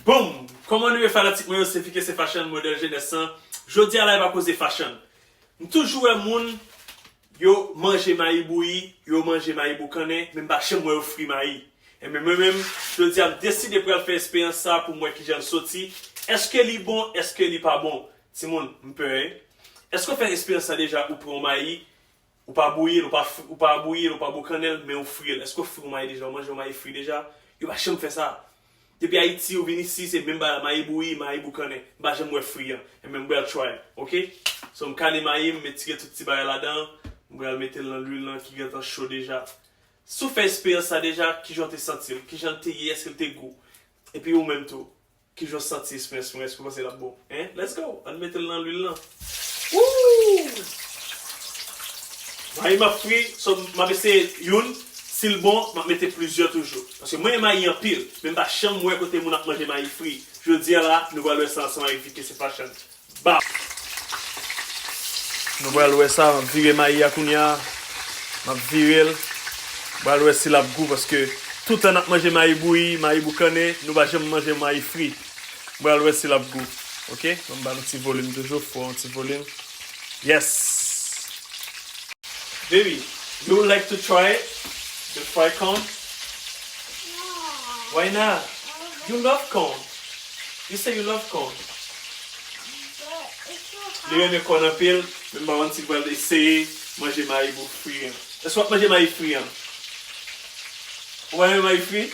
Boom! Kòman nou ye fanatik mwen yo se Fikense Fashion modèl jenès lan Jodi a live a koze fashion M toujou wè moun yo manje mayi bouyi yo manje mayi boukannen men m pa janm wè yo fri mayi Enben mwen menm jodi a m deside pral fè esperyans sa pou m wè kijan l soti Èske li bon èske li pa bon Timoun m pè e Èske w fè esperyans sa deja ou pran yon mayi Ou pa bouyi l, ou pa fri, ou pa bouyi l, ou pa boukannen l, men ou fri l. Èske ou fri yon mayi deja? Ou manje yon mayi fri deja? Yo pa janm fè sa. Depi Ayiti ou vin isi se menm bagay la, mayi bouyi, mayi boukannen. M pa janm wè fri an. Enben m pral try l. Ok. So m kale mayi, m etire tout ti bagay ladan an, m pral mete l nan lwil lan ki gentan cho deja. Si w fè esperyans sa deja, kijan w te santi l? Kijan l te ye? Èske l te gou? Epi ou menm tou? Kijan w santi sms mwen èske w panse lap bon hein let's go ann metel nan lwil lan ooh mayi map fri so map eseye youn sil bon map mete plizyè toujou paske mwen mayi anpil men mpa janm wè kote moun ap manje mayi fri jodia la nou pral wè sa ansanm avèk Vicky Sepashan Bap! Nou pral wè sa, map vire mayi a kounya, map virel, nou pral wè si lap gou paske toutan nap manje mayi bouyi, mayi boukannen, nou pa janm manje mayi fri. Nou pral wè si lap gou. Ok, banm ba nou ti volim toujou, fò yon ti volim. Yes! Baby, you would like to try it? The fried corn? Why not? You love corn! You say you love corn. Li renmen corn anpil, men mpa konn si pral eseye manje mayi bou fri an. Èske wap manje mayi fri an? Ou pa renmen mayi fri?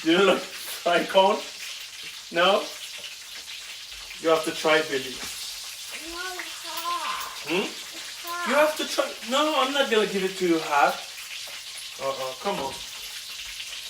Do you love fried corn? No? You have to try it baby. Humm? You have to try it. No, I'm not gonna give it to you hot. Uh-uh, come on.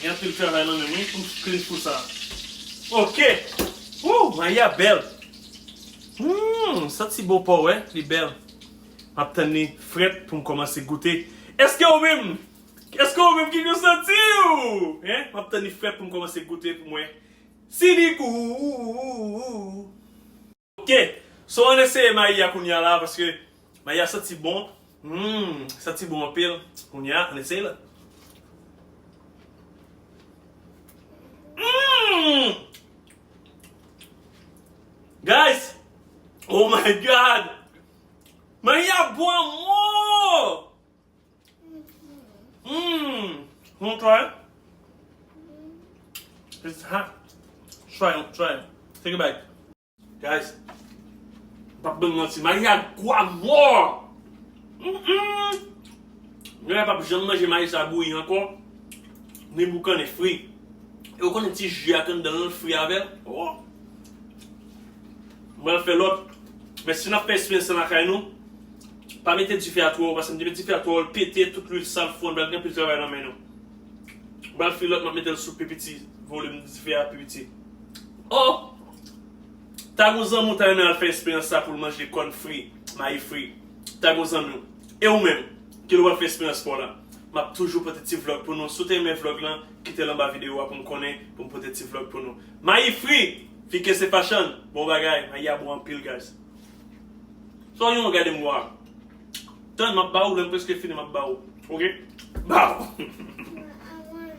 Gen anpil travay nan menm wi poum k clean kou sa ok ooh mayi a bèl humm santi bon paw wè li bèl map tann li frèt poum kòmanse goute eske ou menm eske ou menm ki kou santiw hein map tann li frèt poum kòmanse goute poum wè si li gou ooh. Ok so ann eseye mayi a kounya la paske mayi a santi bon humm santi bon anpil kounya ann eseye l humm guys oh my god mayi a bon anmwoo. Mmm Wanna try it? It's hot Try it, try it Take a bite Guys M pap bann manti mayi a gou a mò Nègè a pap janm manje mayi sa bouyi ankò Ni boukannen fri E ou konnen ti ji a ki anndan l lan l fri avè l Ohh M pral fè lòt Men si n ap fè eksperyans lan lakay nou Pa mete dife a twò wo paske m te met dife a twò wo l pete tout lwil sal fon bal gen anpil travay nan men nou m pral fè lòt m ap mete l sou pi piti volim dife a pi piti oh ta gon zanmi w ta renmen al fè esperyans sa pou l manje kòn fri mayi fri ta gon zanmi w e ou menm ki lè w ap fè esperyans pa w la m ap toujou pote ti vlog pou nou si w te renmen vlog lan kite l anba videyo a pou m konnen pou m pote ti vlog pou nou mayi fri fike se fachann bon bagay mayi a bon anpil guys. Sa w gen w gade m wa. Tann m ap ba ou lè m prèske fini m ap ba ou ok. Baww.